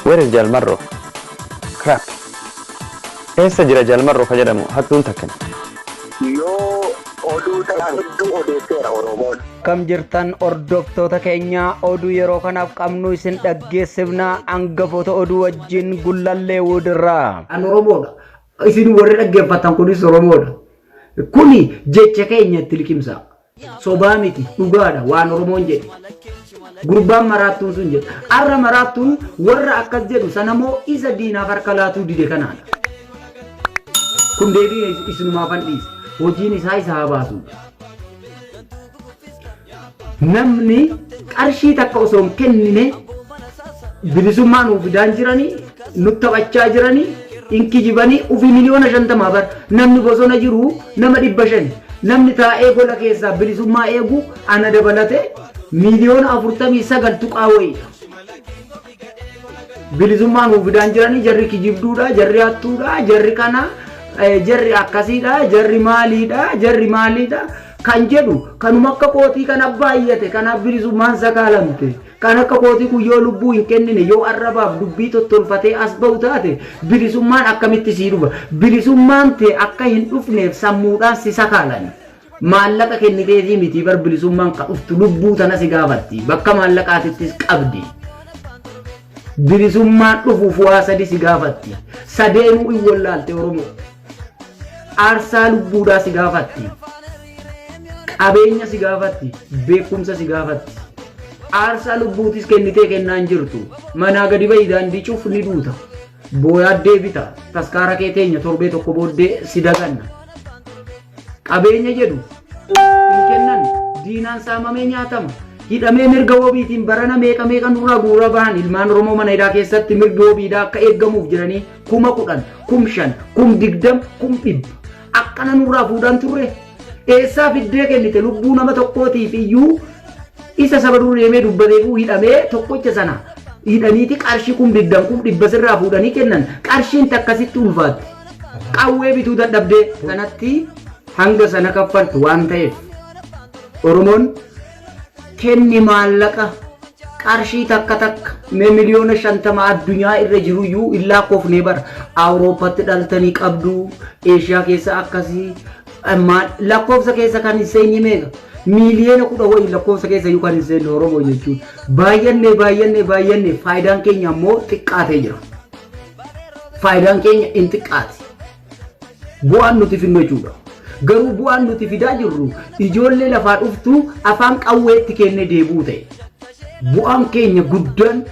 Where is Jaal Marroo? Crap. Eessa jira Jaal Marroo ka jedhamu hattuun takkan? Yoo oduu ta'an hedduu odeesseera Oromoon. Akkam jirtan hordoftoota keenya oduu yeroo kanaaf qabnu isin dhaggeessifna hangafoota oduu wajjin gullallee wuudirraa. An Oromoodha. Isin warri dhaggeeffattan kunis Oromoodha. Kuni jecha keenya itti liqimsaa. Sobaa miti dhugaadha waan Oromoon jedhe. Gurbaan maraattuun sun jedhe. Arra maraattuun warra akkas jedhu sanamoo isa diinaaf harka laatuu dide kanaadha. Kun deebii isinumaafan dhiise. Hojiin isaa isa haa baasu. Namni qarshii takka osoo hin kennine bilisummaa nuu fidaan jiranii nut taphachaa jiranii hin kijibanii ufi miliyoona shantamaa bar namni bosona jiru nama dhibba shani namni taa'ee gola keessaa bilisummaa eegu ana dabalatee miliyoona afurtamii sagal tuqaa wayiidha. Bilisummaa nuuf fidaan jiranii jarri kijibduudha, jarri hattuudha, jarri kana, eh, jarri akkasiidha, jarri maaliidha, jarri maaliidha kan jedhu kanuma akka kootii kan abbaayyate kanaaf bilisummaan sakaalamte kan akka kootii kun yoo lubbuu hin kennine yoo arrabaaf dubbii tottolfatee as ba'u taate bilisummaan akkamitti sii dhufa bilisummaan tee akka hin dhufneef sammuudhaan si sakaalani. Maallaqa kenniteefii mitii bar bilisummaan ka dhuftu lubbuu tana si gaafatti. Bakka maallaqaatittis qabdi. Bilisummaan dhufuuf waa sadi si gaafatti. Sadeenuu in wallaalte Oromoo. Aarsaa lubbuudhaa si gaafatti. Qabeenya si gaafatti. Beekumsa si gaafatti. Aarsaa lubbuutis kennitee kennaa hin jirtu. Manaa gadi ba'i daandii cuf ni duuta. Booyaa deebita. Taskaara kee teenya torbee tokko booddee si daganna. Qabeenya jedhu hin kennan diinaan saamamee nyaatama. Hidhamee mirga wabiitiin barana meeqa meeqa nurraa guuraa bahan ilmaan Oromoo mana hidhaa keessatti mirgi wabiidhaa akka eeggamuuf jedhanii kuma kudhan, kum shan, kum digdam, kum dhibba. Akkana nurraa fuudhaan turre. Eessaa fiddee kennite lubbuu nama tokkootiif iyyuu isa saba dur deemee dubbateefuu hidhamee tokkocha sana hidhaniiti qarshii kum digdam kum dhibba sirraa fuudhanii kennan qarshiin takkasitti ulfaatte. Qawwee bituu dadhabdee kanatti hanga sana kaffaltu waan ta'eef Oromoon kenni maallaqa qarshii takka takka mee miliyoona shantama addunyaa irra jiru iyyuu hin laakkoofnee bara awurooppatti dhaltanii qabdu eeshiyaa keessa akkasii maal lakkoofsa keessa kan hin seenye meeqa miiliyoona kudha wayii lakkoofsa keessa iyyuu kan hin seenne oromoo jechuun baay'annee baay'annee baay'annee faayidaan keenya ammoo xiqqaatee jira. Faayidaan keenya hin xiqqaati. Bu'aan nuti fidnu jechuudha. Garuu bu'aan nuti fidaa jirru ijoollee lafaa dhuftu afaan qawweetti kennee deebi'uu ta'e. Bu'aan keenya guddaan,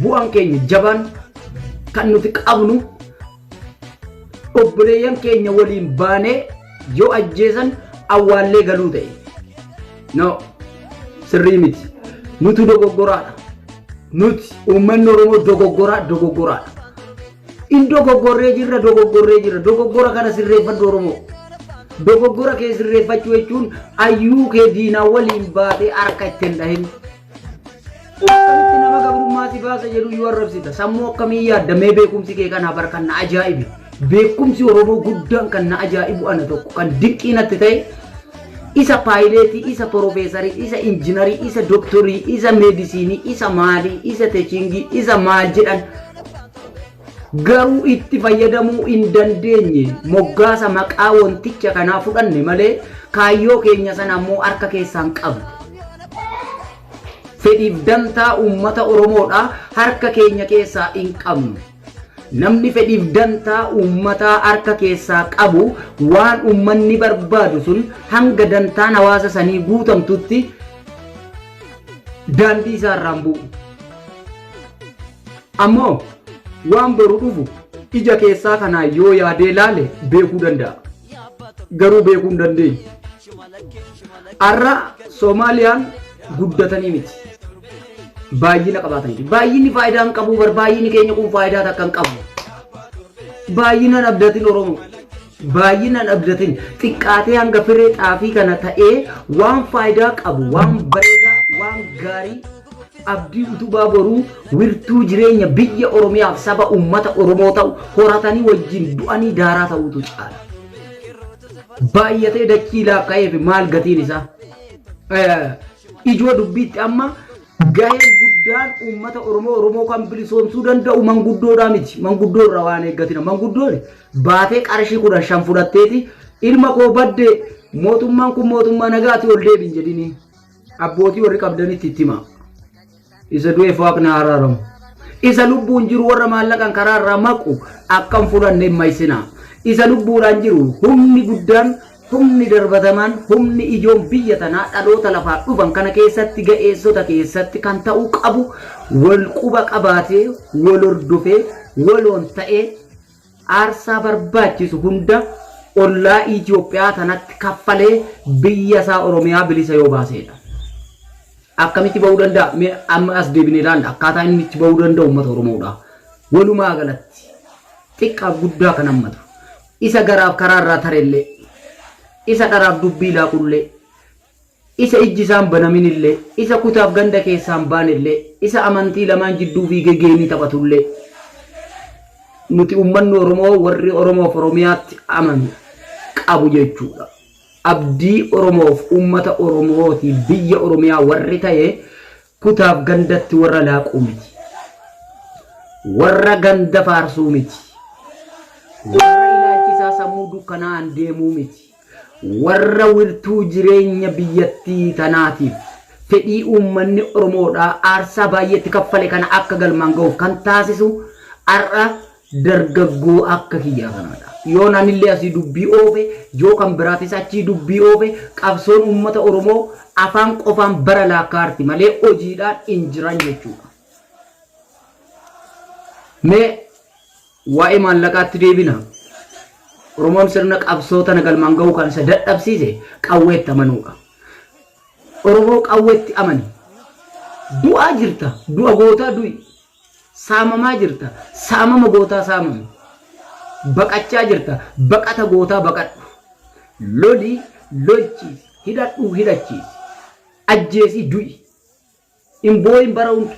bu'aan keenya jabaan kan nuti qabnu obboleeyyan keenya waliin baanee yoo ajjeesan awwaallee galuu ta'e. No, sirrii miti. Nutu dogoggoraadha. Nuti uummanni Oromoo dogoggoraa dogoggoraadha. In dogoggorree jirra dogoggorree jirra dogoggora kana sirreeffadhu Oromoo. Dogoggora kee sirreeffachuu jechuun ayyuu kee diinaa waliin baatee harka ittiin dhahin. Akkamitti nama gabrummaa si baasa jedhu yoo arrabsita sammuu akkamii yaadda mee beekumsi kee kana bar kan na ajaa'ibe beekumsi Oromoo guddaan kan na ajaa'ibu ana tokko kan dinqii natti ta'e isa paayileetii isa porofeesarii isa injinarii isa doktorii isa meedisiinii isa maalii isa techiingii isa maal jedhan garuu itti fayyadamuu hin dandeenye moggaasa maqaa wanticha kanaa fudhanne malee kaayyoo keenya sana ammoo harka keessaan qabne. Fedhiif dantaa uummata Oromoodha harka keenya keessaa hin qabnu. Namni fedhiif dantaa uummataa harka keessaa qabu waan uummanni barbaadu sun hanga dantaan hawaasa sanii guutamtutti daandii isaa irraan bu'u. Ammoo waan boru dhufu ija keessaa kanaan yoo yaadee laale beekuu danda'a. Garuu beekuu hin dandeenye. Har'a Soomaaliyaan guddatanii miti. Baay'ina qabaataniiti. Baay'inni faayidaa hin qabu bar baay'inni keenya kun faayidaa takka hin qabu. Baay'inaan abdatin Oromoo. Baay'inaan abdatin xiqqaatee hanga firee xaafii kana ta'ee waan faayidaa qabu waan bareedaa waan gaarii Abdii Utubaa Boruu wirtuu jireenya biyya Oromiyaaf saba uummata Oromoo ta'u horatanii wajjin du'anii daaraa ta'uutu caala. Baay'atee dachii laakka'eef maal gatiin isaa? Ijoo dubbiitti amma gaheen guddaan uummata Oromoo Oromoo kan bilisoomsuu danda'u manguddoodhaa miti. Manguddoo irraa waan eeggatina. Manguddoon baatee qarshii kudhan shan fudhatteeti ilma koo badde mootummaan kun mootummaa nagaati ol deebiin jedhinii. Abbootii warri qabdanitti itti himaa. Isa du'eef waaqni haa araaramu. Isa lubbuun jiru warra maallaqan karaa irraa maqu akka hin fudhanne hin mayisinaa. Isa lubbuudhaan jiru humni guddaan humni darbatamaan humni ijoon biyya tanaa dhaloota lafaa dhufan kana keessatti ga'eessota keessatti kan ta'uu qabu wal quba qabaatee wal hordofee waloon ta'ee Aarsaa barbaachisu hunda ollaa Itiyoophiyaa tanatti kaffalee biyya isaa Oromiyaa bilisa yoo baaseedha. Akkamitti ba'uu danda'a? Mee amma as deebinee ilaalla. Akkaataa inni itti ba'uu danda'u uummata Oromoodha. Walumaa galatti xiqqaaf guddaa kan hammatu. Isa garaaf karaa irraa tarellee, isa dharaaf dubbii laaqullee, Isa ijji isaa hin banamin illee, isa kutaaf ganda keessaa hin baane illee, isa amantii lamaan jidduu fiigee geemii taphatu illee, nuti ummanni Oromoo warri Oromoof Oromiyaatti amanu qabu jechuu dha. Abdii Oromoof ummata Oromoo fi biyya Oromiyaa warri ta'e kutaaf gandatti warra laaquu miti. Warra ganda faarsuu miti. Warra ilaalchi isaa sammuu dukkanaa'aan deemuu miti. Warra wirtuu jireenya biyyattii tanaatiif fedhii uummanni Oromoodhaa aarsaa baay'ee itti kaffale kana akka galmaan gahuuf kan taasisu har'a dargaggoo akka kiyyaa kanaadha. Yoon anillee asii dubbii oofe, yoo kan biraatis achii dubbii oofe qabsoon uummata Oromoo afaan qofaan bara laakkaa'arti malee hojiidhaan hin jiran jechuudha. Mee. Waa'ee maallaqaatti deebina. Oromoon sirna qabsoo tana galmaan gahuu kan isa dadhabsiise qawweetti amanuudha. Oromoo qawweetti amani. Du'aa jirta, du'a gootaa du'i. Saamamaa jirta, saamama gootaa saamami. Baqachaa jirta, baqata gootaa baqadhu. Loli, lolchiisi, hidhadhu, hidhachiisi. Ajjeesi, du'i. Hin boo'in bara hunda.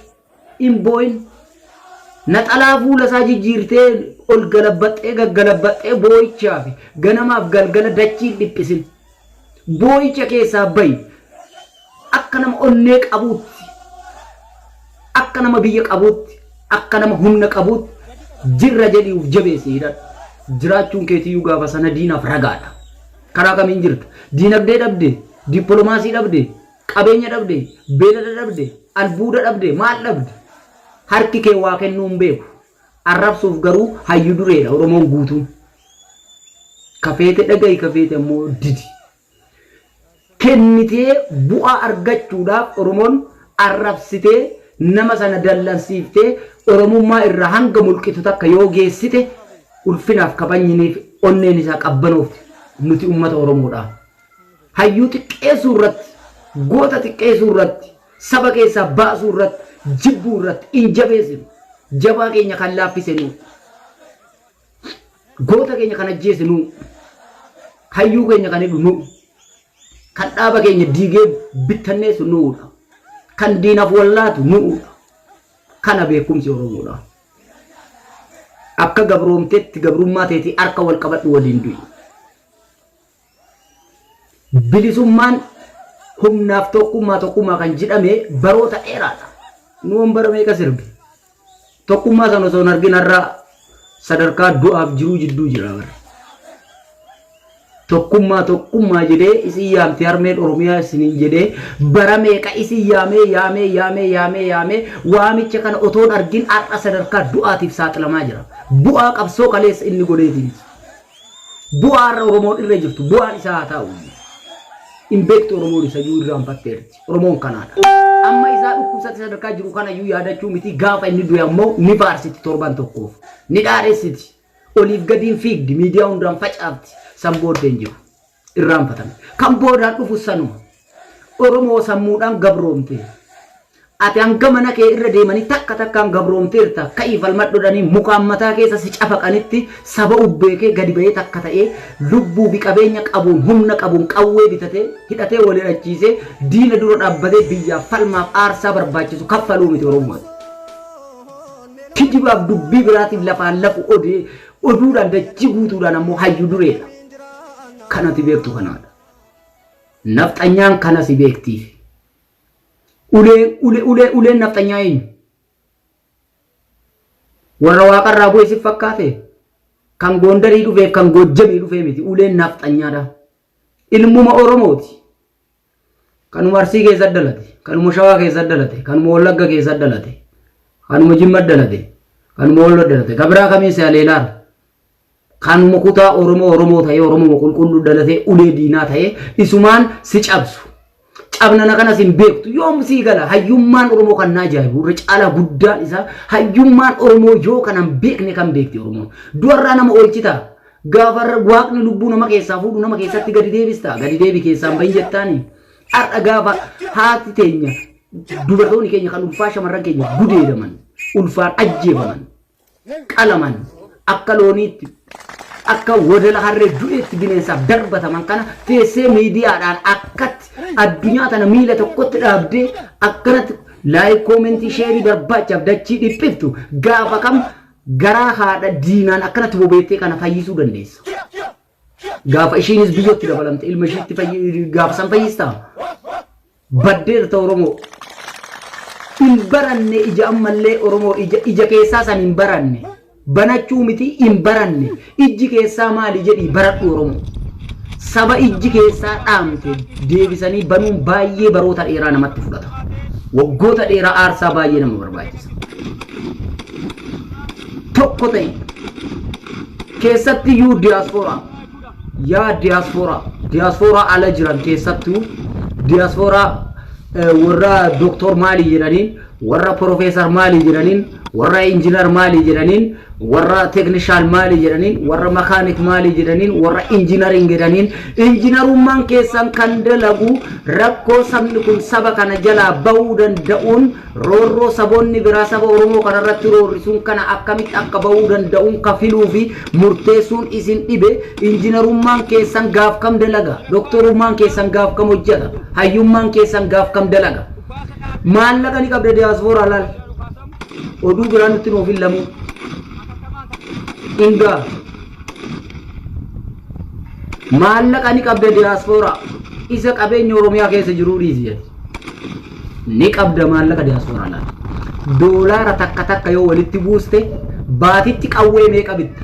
Hin boo'in. Naxalaa fuula isaa jijjiirtee ol galabbaxxee gaggalabbaxxee boo'ichaa fi ganamaaf galgala dachii hin dhiphisin. Boo'icha keessaa bahi. Akka nama onnee qabuutti, akka nama biyya qabuutti, akka nama humna qabuutti jirra jedhii uf jabeessi hidhadhu. Jiraachuun keetiyyuu gaafa sana diinaaf ragaadha. Karaa kamiin jirta? Diinagdee dhabdee? Dippolomaasii dhabdee? Qabeenya dhabde, beelada dhabde, albuuda dhabde, maal dhabde? Harki kee waa kennuu hin beeku. Arrabsuuf garuu hayyu dureedha Oromoon guutuun. Ka feete dhagahi ka feete ammoo didi. Kennitee bu'aa argachuudhaaf Oromoon arrabsitee nama sana dallansiiftee Oromummaa irraa hanga mulqitu takka yoo geessite ulfinaaf kabajniniif onneen isaa qabbanoofti. Nuti ummata Oromoodha. Hayyuu xiqqeessuu irratti, goota xiqqeessuu irratti, saba keessaa baasuu irratti, jibbuu irratti hin jabeessinu. Jabaa keenya kan laaffise nuu. Goota keenya kan ajjeese nuu. Hayyuu keenya kan hidhu nuu. Kan dhaaba keenya diigee bittanneessu nuudha. Kan diinaaf wallaatu nuudha. Kana beekumsi Oromoodha. Akka gabroomteetti gabrummaa teetii harka wal qabadhu waliin du'i. Bilisummaan humnaaf tokkummaa tokkummaa kan jedhame baroota dheeraadha. Nuun bara meeqa sirbi? Tokkummaa sana osoo hin argin har'a sadarkaa du'aaf jiruu jidduu jira bara. Tokkummaa tokkummaa jedhee isin yaamti harmeen Oromiyaa isiniin jedhee bara meeqa isin yaamee yaamee yaamee yaamee yaamee waamicha kana otoo hin argin har'a sadarkaa du'aatiif saaxilamaa jira. Bu'aa qabsoo kaleessa inni godheetiin. Bu'aa har'a Oromoon irra jirtu bu'aan isaa haa taa'u. Hin beektu Oromoon isayyuu irraanfatteerti. Oromoon kanaadha. Amma isaa dhukkubsatti sadarkaa jiru kanayyuu yaadachuu miti gaafa inni du'e ammoo ni faarsiti torban tokkoof. Ni dhaadhessiti. Oliif gadiin fiigdi miidiyaa hundaan facaafti. San booddeen jiru. irraanfatan. Kan boodaan dhufu sanuma. Oromoo sammuudhaan gabroomte. Ati hanga mana kee irra deemanii takka takkaan gabroomteerta ka'ii falmadhodhanii mukaan mataa keessa si cafaqanitti saba ubbee kee gadi ba'ee takka ta'ee lubbuu fi qabeenya qabuun humna qabuun qawwee bitatee hidhatee wal hidhachiisee diina dura dhaabbatee biyyaaf falmaaf aarsaa barbaachisu kaffaluu miti Oromooti. Kijibaaf dubbii biraatiif lafaan lafu odee Oduudhaan dachii guutuudhaan ammoo hayyu dureedha. Kan ati beektu kanaadha. Nafxanyaan kana si beektiif. Ulee, ule, ulee, uleen nafxanyaa eenyu? Warra waaqarraa bu'e si fakkaate? Kan Goondarii dhufeef kan Goojjamii dhufee miti. Uleen nafxanyaadha. Ilmuma Oromooti. Kanuma Arsii keessa dhalate, kanuma Shawaa keessa dhalate, kanuma Wallagga keessa dhalate, kanuma Jimma dhalate, kanuma Wallo dhalate, ka biraa kamiin si haleelaara. Kanuma kutaa Oromoo Oromoo ta'ee Oromoo qulqulluu dhalatee ulee diinaa ta'ee isumaan si cabsu. Cabnana kanas hin beektu yoom sii gala hayyummaan Oromoo kan na ajaa'ibu irra caalaa guddaan isaa hayyummaan Oromoo yoo kanan beekne kan beekti Oromoon. Du'arraa nama oolchitaa. Gaafa waaqni lubbuu nama keessaa fuudhu nama keessatti gadi deebista. Gadi deebi keessaan bahin jettaani. Har'a gaafa haati teenya dubartoonni keenya kan ulfaa shamarran keenya gudeedaman ulfaan ajjeefaman qalaman akka looniitti akka wadala harree du'eetti bineensaaf darbataman kana teessee miidiyaadhaan akkatti addunyaa tana miila tokkotti dhaabdee akkanatti laayik koomentii sheerii barbaachaaf dachii dhiphiftu gaafa kam Garaa haadha diinaan akkanatti bobeettee kana fayyisuu dandeessa. Gaafa ishiinis biyyatti dabalamte ilma ishiitti fayyi- gaafa san fayyistaa? Baddeerta Oromoo. Hin baranne ija ammallee Oromoo ija, ija keessaa san hin baranne. Banachuu miti hin baranne. Ijji keessaa maali jedhii baradhu Oromoo. Saba ijji keessaa dhaamte deebisanii banuun baay'ee baroota dheeraa namatti fudhata. Waggoota dheeraa aarsaa baay'ee nama barbaachisa. Tokko ta'e keessatti iyyuu diyaaspooraa yaa diyaaspooraa diyaaspooraa ala jiran keessattuu diyaaspooraa warra doktor maali jedhanii Warra Professor Mali jedhaniin, warra Engineer Mali jedhaniin, warra Technician Mali jedhaniin, warra Mechanic Mali jedhaniin, warra Engineering jedhaniin, Engineerummaan keessan kan dalagu rakkoo sabni kun saba kana jalaa bahuu danda'uun roorroo saboonni biraa saba Oromoo kana irratti roorrisuun kana akkamitti akka bahuu danda'uun ka filuu fi murteessuun isin dhibe Engineerummaan keessan gaaf kam dalaga? Doktorummaan keessan gaaf kam hojjata? Hayyummaan keessan gaaf kam dalaga? Maallaqa ni qabda diaspora laal. Oduu biraa nutti nuuf hin lamuu. Ingaa. Maallaqa ni qabda diaspora. Isa qabeenya Oromiyaa keessa jiruu dhiisi jedhe. Ni qabda maallaqa diaspora laal. Doolaara takka takka yoo walitti buuste baatitti qawwee meeqa bitta?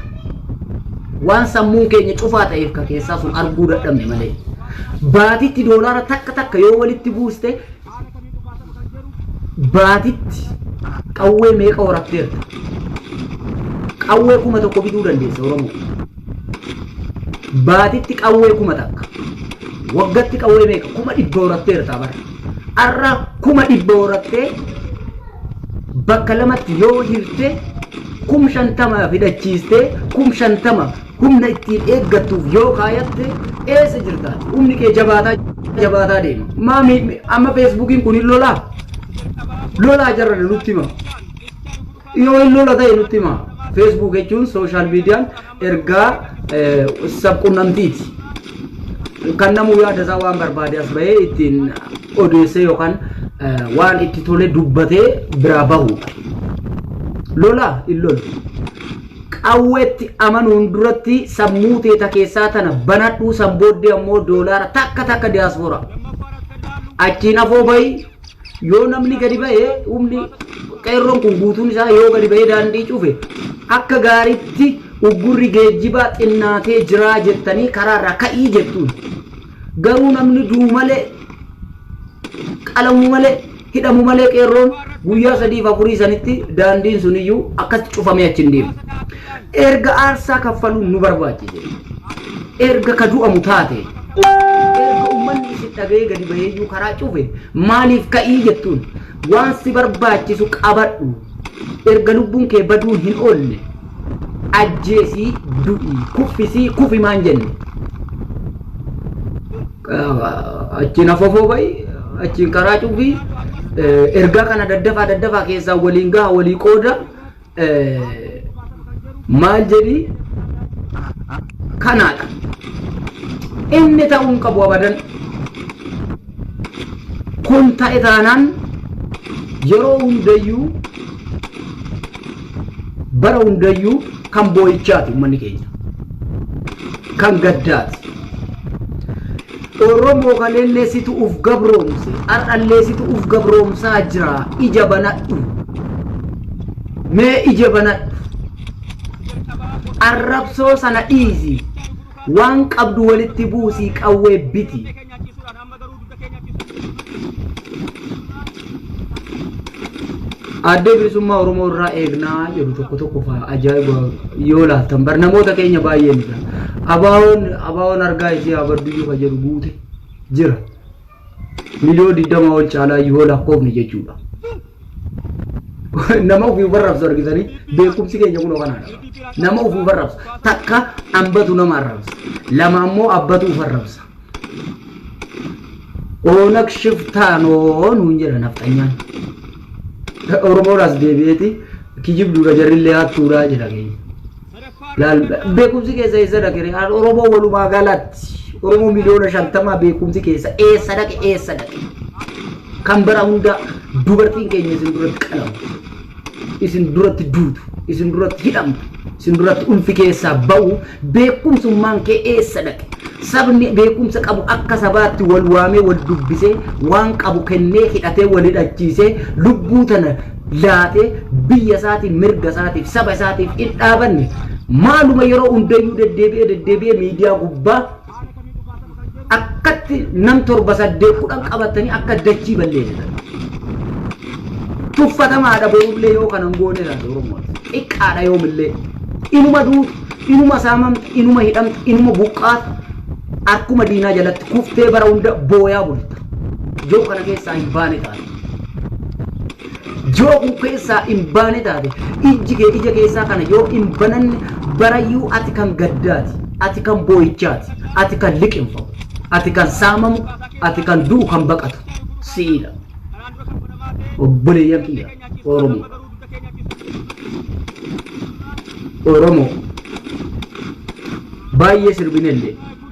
Waan sammuun keenya cufaa ta'eef ka keessaa sun arguu dadhabne malee. Baatitti doolaara takka takka yoo walitti buuste baatitti qawwee meeqa horatteerta? Qawwee kuma tokko bituu dandeessa Oromoo. Baatitti qawwee kuma takka. Waggatti qawwee meeqa? Kuma dhibba horatteerta bara. Arra kuma dhibba horattee bakka lamatti yoo hirte kum shantama hidhachiistee kum shantama humna ittiin eeggattuuf yoo kaayatte eessa jirta humni kee jabaataa jabaataa deema maa mi- mi- amma feesbuukiin kun hin lolaa lolaa jarrana nutti hima yoo hin lola ta'e nutti hima feesbuuk jechuun sooshaal miidiyaan ergaa sabqunnamtiiti. Kan namuu yaada isaa waan barbaade as bahee ittiin odeessee yookaan waan itti tole dubbatee biraa bahuudha. Lola hin lolu. Qawweetti amanuun duratti sammuu teeta keessaa tana banadhuu san booddee ammoo doolaara takka takka diyaaspooraa. Achiin afoo bahi Yoo namni gadi bahe humni qeerroon kun guutuun isaa yoo gadi bahee daandii cufe akka gaariitti uggurri geejjibaa xinnaatee jiraa jettanii karaarraa ka'ii jettuun. Garuu namni du'u malee qalamu malee hidhamu malee qeerroon guyyaa sadiif afurii sanitti daandiin suniyyuu akkatti cufamee achi hin deemu. Erga aarsaa kaffaluun nu barbaachise, erga ka du'amu taate, erga ummanni isin dhaga'ee gadi baheeyyuu karaa cufe maaliif ka'ii jettuun waan si barbaachisu qabadhu, erga lubbuun kee baduun hin oolle ajjeesii du'i, kuffisii kufi maan jenne. Achiin afofoo ba'i, achiin karaa cufi, ergaa kana daddafaa daddafaa keessaa waliin gaha walii qooda, maal jedhi kanaadha inni ta'uu hin qabu abadan kun ta'e taanaan yeroo hundayyuu bara hundayyuu kan boo'ichaati uummanni keenya kan gaddaati Oromoo kaleellee situ uf gabroomse har'allee situ uf gabroomsaa jira ija banadhu mee ija banadhu arrabsoo sana dhiisi waan qabdu walitti buusii qawwee biti Addee bilisummaa Oromoo irraa eegnaa jedhu tokko tokko faa ajaa'iba yoo laaltan bar namoota keenya baay'ee ni jira. Abaawoon abaawoon argaa isii haa badduyyuu ka jedhu guute jira. Miliyoo digdama ol caalaa yoo lakkoofne jechuudha. Nama ofii barrabsu argitanii beekumsi keenya kunoo kanaadha. Nama ofii barrabsu takka ambatu nama arrabsa. Lama ammoo abbatu of arrabsa. Oonag shiftaa noo nuun jedha nafxanyaan. Oromoon as deebi'eeti kijibduudha jarrillee hattuudha jedha keenya. Laal beekumsi keessa eessa dhaqe ree? Al Oromoo walumaa galatti Oromoo miliyoona shantamaa beekumsi keessa eessa dhaqe eessa dhaqe? Kan bara hundaa dubartiin keenya isin duratti qalamte. isin duratti duutu, isin duratti hidhamtu, isin duratti ulfi keessaa ba'u beekumsummaan kee eessa dhaqe? Sabni beekumsa qabu akka sabaatti wal waamee wal dubbisee waan qabu kennee hidhatee wal hidhachiisee lubbuu tana laatee biyya isaatiif mirga isaatiif saba isaatiif hin dhaabanne maaluma yeroo hundayyuu deddeebi'ee deddeebi'ee miidiyaa gubbaa akkatti nam torba saddeet kudhan qabattanii akka dachii balleessitan. Tuffatamaadha borullee yoo kanan goone taate Oromoon. Xiqqaadha yoomillee. Inuma duutu, inuma saamamta, inuma hidhamta, inuma buqqaata. Harkuma diinaa jalatti kuftee bara hunda booyaa bulta. Yoo kana keessaa hin baane taate. Yoo kun keessaa hin baane taate, ijji kee ija keessaa kana yoo hin bananne, barayyuu ati kan gaddaati, ati kan boo'ichaati, ati kan liqimfamu, ati kan saamamu, ati kan du'u kan baqatu si'idha. Obboleeyyan kiyya Oromoo. Oromoo. Baay'ee sirbinellee.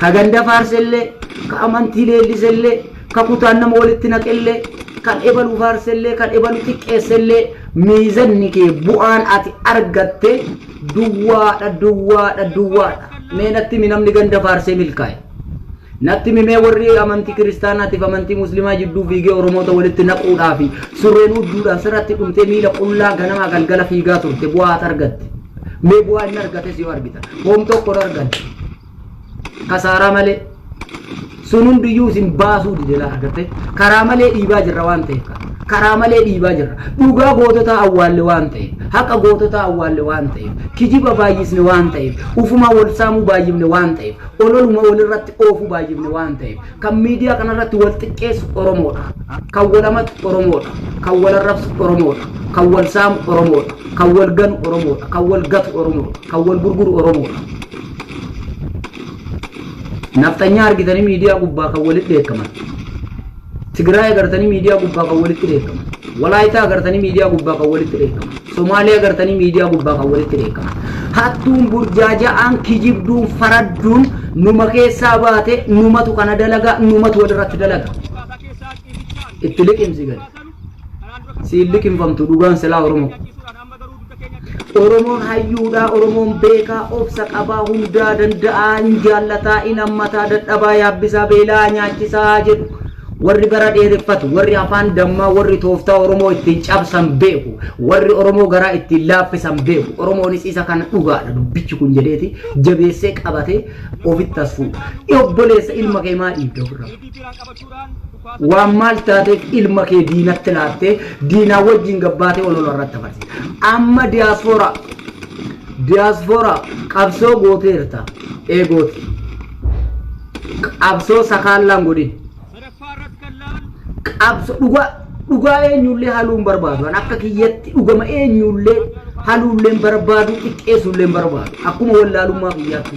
Ka ganda faarsellee, ka amantii leellisellee, ka kutaan nama walitti naqellee, kan ebalu faarsellee, kan ebalu xiqqeessellee, miizanni kee bu'aan ati argatte duwwaadha, duwwaadha, duwwaadha. Mee natti himi namni ganda faarsee milkaa'e? Natti himi mee warri amantii kiristaanaatiif amantii muslimaa jidduu fiigee Oromoota walitti naquudhaa fi surreen huudduudhaan sirratti dhumtee miila qullaa ganamaa galgala fiigaa turte bu'aa ati argatte? Mee bu'aa inni argates yoo argitan. Hoom tokko hin arganne. kasaaraa malee sun hundiyyuu isin baasuu dide laata agartee karaa malee dhiibaa jirra waan ta'eef ka- karaa malee dhiibaa jirra dhugaa goototaa awwaalle waan ta'eef haqa goototaa awwaalle waan ta'eef kijiba baay'isne waan ta'eef ufumaa wal saamuu baay'ifne waan ta'eef ololuma walirratti oofuu baay'ifne waan ta'eef kan miidiyaa kanarratti wal xiqqeessu oromoodha kan wal amatu oromoodha kan wal arrabsu oromoodha kan wal saamu oromoodha kan wal ganu oromoodha kan wal gatu oromoodha kan wal gurguru oromoodha Nafxanyaa argitanii miidiyaa gubbaa kan walitti dheekkaman. Tigraay agartanii miidiyaa gubbaa kan walitti dheekkaman. Walaayitaa agartanii miidiyaa gubbaa kan walitti dheekkaman. Somaalee agartanii miidiyaa gubbaa kan walitti dheekkaman. Hattuun burjaaja'aan kijibduun faradduun numa keessaa baate numatu kana dalaga numatu walirratti dalaga. Itti liqimsi gadi. Siin liqimfamtu dhugaan silaa Oromoo. Oromoon hayyuudhaa Oromoon beekaa obsa qabaa hundaa danda'aa hin jaallataa hin hammataa dadhabaa yaabbisaa beela'aa nyaachisaa jedhu warri bara dheereffatu warri afaan dammaa warri tooftaa Oromoo ittiin cabsan beeku warri Oromoo garaa ittiin laaffisan beeku Oromoonis isa kana dhugaadha dubbichi kun jedheeti jabeessee qabatee ofitti as fuudha. Obboleessa ilma kee maa dhiibda ofirraa? Waan maal taateef ilma kee diinatti laattee diinaa wajjin gabbaatee olola irratti dabarsita. Amma diyaasfooraa diyaasfooraa qabsoo gooteerta eegooti. Qabsoo sakaallaan godhin. Qabsoo dhugaa dhugaa eenyullee haluu hin barbaadu. An akka kiyyatti dhugama eenyullee haluullee hin barbaadu xiqqeessuullee hin barbaadu. Akkuma wallaalummaa kiyyaatti.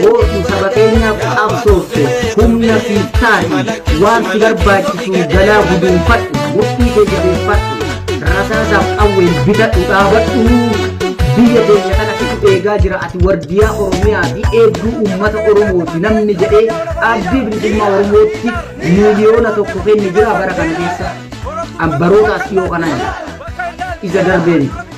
Gootu saba keenyaaf qabsoofte humna siif taati waan si barbaachisu galaa guduunfadhu murtii kee jabeeffadhu rasaasaaf qawween bitadhu dhaabadhu biyya keenya kana situ eegaa jira ati wardiyaa oromiyaa fi eegduu uummata oromooti namni jedhee abdii bilisummaa oromootti miiliyoona tokko kenni jira bara kana keessa ambarootaas dhiyoo kana jira isa darbeen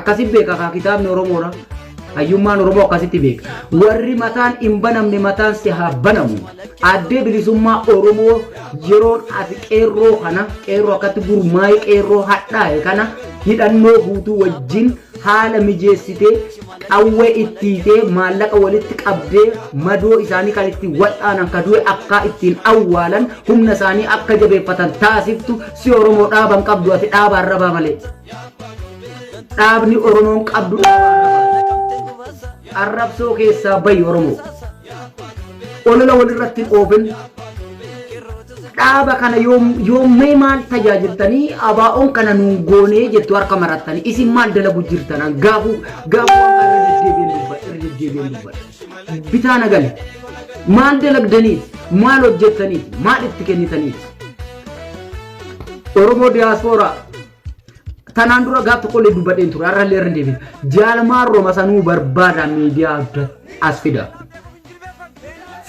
akkasi beeka kaa kitaabni oromoodha hayyummaan oromoo akkasitti beeka warri mataan hin banamne mataan si haa banamu addee bilisummaa oromoo yeroon ati qeerroo kana qeerroo akkatti gurmaa'ee qeerroo hadhaa'e kana hidhannoo guutuu wajjin haala mijeessitee qawwee ittiitee maallaqa walitti qabdee madoo isaanii kan ittiin wal'aanan ka du'e akkaa ittiin awwaalan humna isaanii akka jabeeffatan taasiftu si oromoo dhaaban qabdu ati dhaaba arrabaa malee. Dhaabni Oromoon qabdu arrabsoo keessaa bayi Oromoo. Olola walirratti hin oofin. Dhaaba kana yoommee maal tajaajiltanii abaa'oon kana nuun goonee jettu harka marattanii isin maal dalagu jirtanan gaafuu gaafuu amma irra deddeebiin dubbadha irra deddeebiin dubbadha. Bitaa nagan maal dalagdanii maal hojjettanii maal itti kennitanii. Oromoo diyaaspooraa Tanaan dura gaaf tokkollee dubbadheen ture har'allee irra deebiin jaalmaan roma sanuu barbaada miidiyaa adda as fida.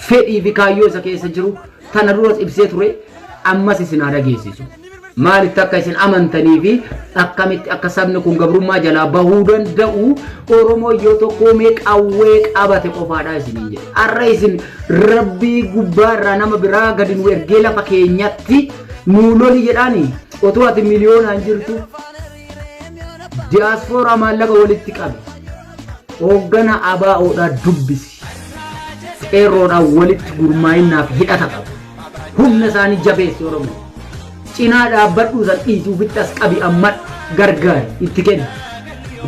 Fedhii fi kaayyoo isa keessa jiru tana duras ibsee ture ammas isin haa dhageessisu. Maalitti akka isin amantanii fi akkamitti akka sabni kun gabrummaa jalaa bahuu danda'u Oromoo yoo tokkoomee qawwee qabate qofaadha isiniin jedhe. Har'a isin rabbii gubbaa irraa nama biraa gadi nu ergee lafa keenyatti nuu loli jedhaanii Otuu ati miliyoonaan jirtu diyaaspooraa maallaqa walitti qabi. Hooggana ABO'dhaa dubbisi. Qeerroodhaan walitti gurmaa'innaaf hidhata qabu. Humna isaanii jabeessi Oromoo. Cinaa dhaabbadhuu san dhiisi ofitti as qabi amma gargaari itti kenni.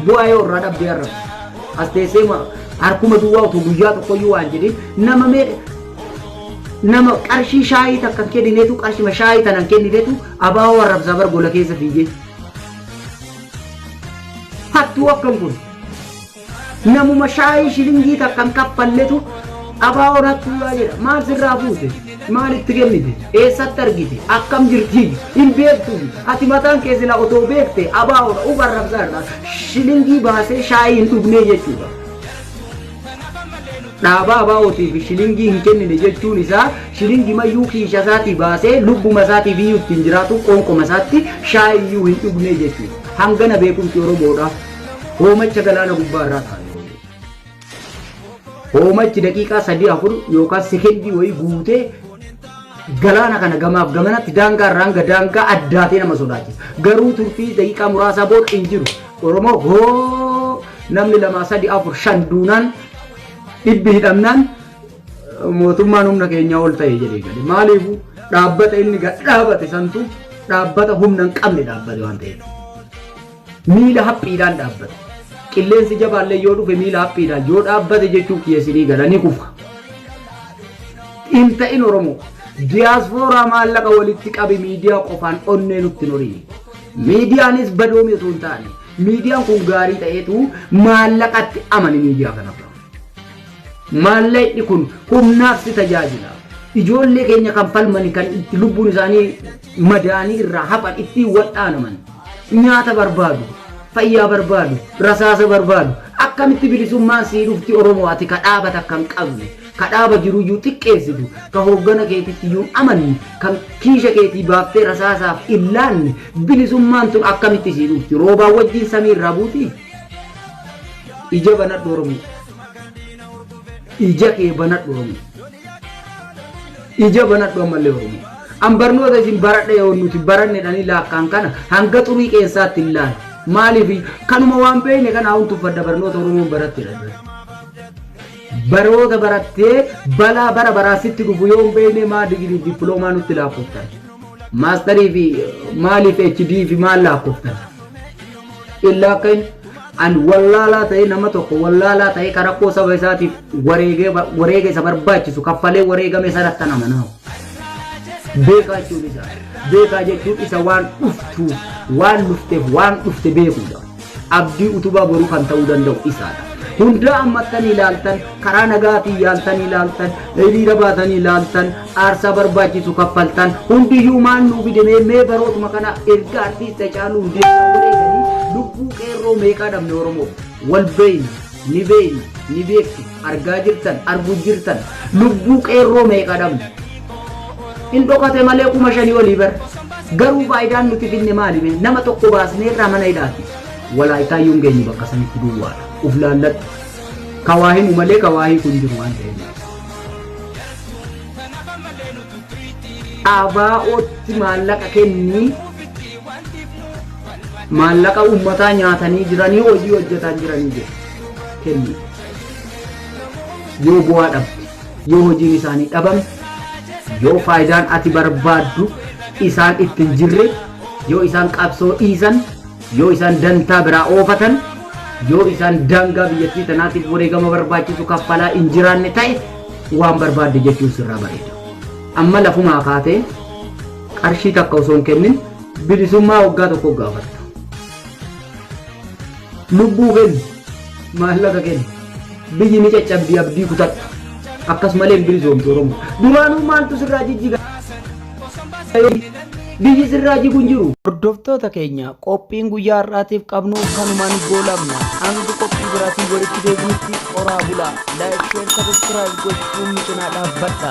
Bu'aa yoo irraa dhabdee har'a. As teessee harkuma duwwaa otoo guyyaa tokkoyyuu waan jedhin nama meeqa Nama qarshii shaayii takka hin kenninetu qarshima shaayii tana hin kenninetu abaawoo arrabsaa bar gola keessa fiigee. Hattuu akkam kun. Namuma shaayii shilingii takka hin kaffalletu abaawoon hattuudhaa jedha. Maal sirraa fuute? Maal itti kennite? Eessatti argite? Akkam jirti? Hin beektu. Ati mataan kee sila otoo beekte abaawoodha. Uf arrabsaa irraa shilingii baasee shaayii hin dhugnee jechuudha. Dhaabaa ABOtiif shilingii hin kennine jechuun isaa shilingimayyuu kiisha isaatii baasee lubbuma isaatiif iyyuu ittiin jiraatu qoonqoma isaatti shaayii iyyuu hin dhugnee jechuudha. Hangana beekumsi Oromoodha. Hoomacha galaana gubbaa irraa taa'e. Hoomachi daqiiqaa sadii afur yookaan sekendii wayii guutee galaana kana gamaaf gamanatti daangaa irraa hanga daangaa addaatee nama sodaachisa. Garuu turtii daqiiqaa muraasaa booda hin jiru. Oromoo hoo namni lamaa sadi afur shan duunaan dhibbi hidhamnaan mootummaan humna keenyaa ol ta'e jedhee gale. Maaliifuu dhaabbata inni gad dhaabate santu dhaabbata humna hin qabne dhaabbate waan ta'eef. Miila haphiidhaan dhaabbate. Qilleensi jabaallee yoo dhufe miila haphiidhaan yoo dhaabbate jechuun kiyyeessinii gala ni kufa. Hin ta'in Oromoo. Diyaaspooraa maallaqa walitti qabi miidiyaa qofaan onnee nutti hin horii. Miidiyaanis badoomii osoo hin taane miidiyaan kun gaarii ta'eetu maallaqatti amani miidiyaa kanarraa. Maallaqni kun humnaaf si tajaajila. Ijoollee keenya kan falmani kan itti lubbuun isaanii madaanii irraa hafan ittiin wal'aanaman. Nyaata barbaadu, fayyaa barbaadu, rasaasa barbaadu. Akkamitti bilisummaan sii dhufti Oromoo ati ka dhaabata kan qabne. ka dhaaba jiruyyuu xiqqeessitu, ka hooggana keetittiyyu hin amanne, ka kiisha keetii baaftee rasaasaaf hin laanne, bilisummaan tun akkamitti sii dhufti? Roobaan wajjiin samii irraa buutii? Ija banadhu Oromoo! Ija kee banadhu Oromoo! Ija banadhu ammallee Oromoo! An barnoota isin baradha yoo nuti barannedhanii laakkaan kana hanga xurii qeensaatti hin laalu. Maaliif kanuma waan beekne kana haun tuffadha barnoota Oromoon barattedha. Barooda barattee balaa bara baraa sitti dhufu yoo hin beekne maa digirii fi dippiloomaa nutti laakkoftan? Maastarii fi maaliif HD fi maal laakkoftan? Illaa akka hin an wallaalaa ta'ee nama tokko wallaalaa ta'ee ka rakkoo saba isaatiif wareegee ba- wareega isa barbaachisu kaffalee wareegame sanatti an amanaa. Beekaa jechuun isaa. Beekaa jechuun isa waan dhuftuuf, waan dhufteef, waan dhufte beekuudha. Abdii utubaa boruu kan ta'uu danda'u isaadha. Hundaa ammattanii laaltan, karaa nagaatiin yaaltanii laaltan, hiriira baatanii laaltan, aarsaa barbaachisu kaffaltan, hundiyyuu maal nuu fide mee mee barootuma kana erga artiist Hacaaluu Hundeessaa wareeganii lubbuu qeerroo meeqaa dhabne Oromoof? Wal beeyna, ni beeyna, ni beektu, argaa jirtan, arguu jirtan, lubbuu qeerroo meeqa dhabne? Hin dhokate malee kuma shanii olii bar. Garuu faayidaan nuti finne maali mee? Nama tokko baasnee irraa mana hidhaati. Walaaytaa iyyuu hin geenye bakka sanitti duwwaadha. Uf laalladhu. Ka waa himu malee ka waa hiiku hin jiru waan ta'eef. Abaa'ootti maallaqa kennii maallaqa uummataa nyaatanii jiranii hojii hojjetaan jiranii jiru. Kenni. Yoo bu'aa dhabde. yoo hojiin isaanii dhabame, yoo faayidaan ati barbaaddu isaan itti hin jirre, yoo isaan qabsoo dhiisan, yoo isaan dantaa biraa oofatan, yoo isaan daangaa biyyattii tanaatiif wareegama barbaachisu kaffalaa hin jiraanne ta'e waan barbaadde jechuun sirraa bareeda. Amma lafumaa kaatee qarshii takka osoo hin kennin bilisummaa waggaa tokko gaafatta. Lubbuu kenni. Maallaqa kenni. Biyyi ni caccabdi abdii kutadhu. Akkasumalee hin bilisoomtu Oromoo. Duraanuu maaltu sirraa jijjiga? Biyyi sirraa jigu hin jiru. Hordoftoota keenya qophiin guyyaa har'aatiif qabnu kanumaan goolabna. Hanga qophii biraatiin walitti deebinutti horaa bulaa. Laayik, sheer, sabiskiraayib gochuun nu cinaa dhaabbadha.